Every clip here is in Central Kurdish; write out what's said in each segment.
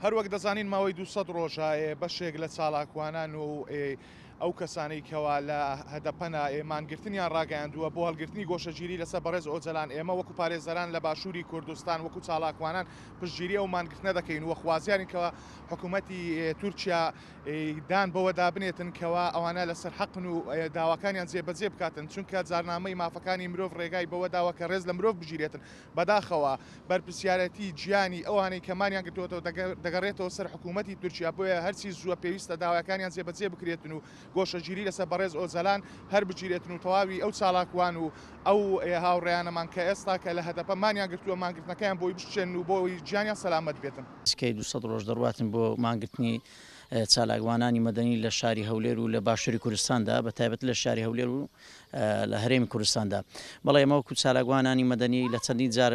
هەروەک دەزانین ماوەی دوو سەد ڕۆژە ئێ بەشێک لە چالاکوانان و ئێ ئەو کەسانەی کەوا لە هەدەپەنە ئێ مانگرتنیان ڕاگەیاندووە بۆ هەڵگرتنی گۆشەگیری لەسەر بەڕێز ئۆجەلان ئێمە وەکو پارێزەران لە باشووری کوردستان وەکو چالاکوانان پشتگیری ئەو مانگرتنە دەکەین و خوازیارین کەوا حکومەتی ئێ تورکیا ئێ دان بەوەدا بنێتن کەوا ئەوانە لەسەر حەقن و ئێ داواکانیان جێبەجێ بکاتن چونکە جارنامەی مافەکانی مرۆڤ ڕێگای بەوە داوە کە ڕێز لە مرۆڤ بگیرێتن بەداخەوە بەرپرسیارێتی جیانی ئەوانەی کە مانیان گرتۆتەوە دەگەڕێتەوە سەر حکوومەتی تورکیا بۆیە هەرچی زووە پێویستە داوایەکانیان جێبەجێ بکرێتن و گۆشەگیری لەسەر بەڕێز ئۆجەلان هەر بگیرێتن و تەواوی ئەو چالاکوان و ئەو هاوڕێیانەمان کە ئێستا کە لە هەدەپە مانیان گرتووە مانگرتنەکەیان بۆی بشکێنن و بۆی گیانیان سەلامەت بێتن. سکەی دوو سەد ڕۆژ دەڕواتن بۆ مانگرتنی چالاکوانانی مەدەنی لە شاری هەولێر و لە باشووری کوردستاندا بە تایبەت لە شاری هەولێر و. لە هەرێمی کوردستاندا بەڵێ ئێمە وەکو چالاکوانانی مەدەنی لە چەندین جار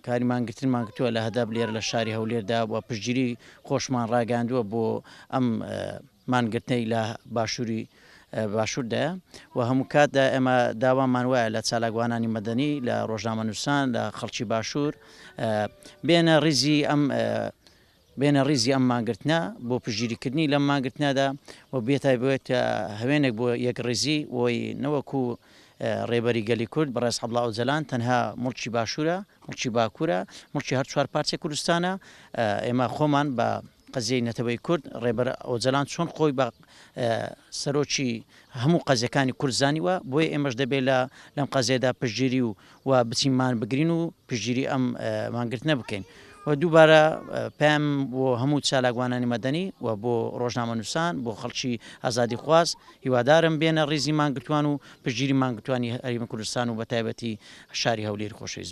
کاری مانگرتن مانگرتووە لە هەدەب لێر لە شاری هەولێردا و پشتگیری خۆشمان ڕاگەاندووە بۆ ئەم مانگرتنەی لە باشووری باشووردایە و هەموو کاتدا ئێمە داوامان وایە لە چالاکوانانی مەدەنی لە ڕۆژنامە نووسان لە خەڵکی باشوور بێنە ڕیزی ئەم بێنە ڕیزی ئەم مانگرتنە بۆ پشتگیریکردنی لەم مانگرتنەدا و بێتایبەت هەوێنێک بۆ یەکڕیزی و نەوەکو ڕێبەری گەلی کورد بەڕێز عەبدوڵا ئۆجەلان تەنها موڵکی باشوورە، موڵکی باکوورە، موڵکی هەر چوار پارچەی کوردستانە، ئێمە خۆمان بە قەزیەی نەتەوەی کورد ڕێبەر ئۆجەلان چۆن خۆی بە سەرۆکی هەموو قەزیەکانی کورد زانیوە بۆیە ئێمەش دەبێت لەم قەزیەدا پشتگیری و و بچین مان بگرین و پشتگیری ئەم مانگرتنە بکەین و دووبارە پێم بۆ هەموو چالاکوانانی مەدەنی و بۆ ڕۆژنامە نووسان بۆ خەڵکی ئازادی خواست هیوادارم بێنە ڕیزی مانگرتوان و پشتگیری مانگرتوانی هەریم کوردستان و بە تایبەتی شاری هەولێر خۆشویست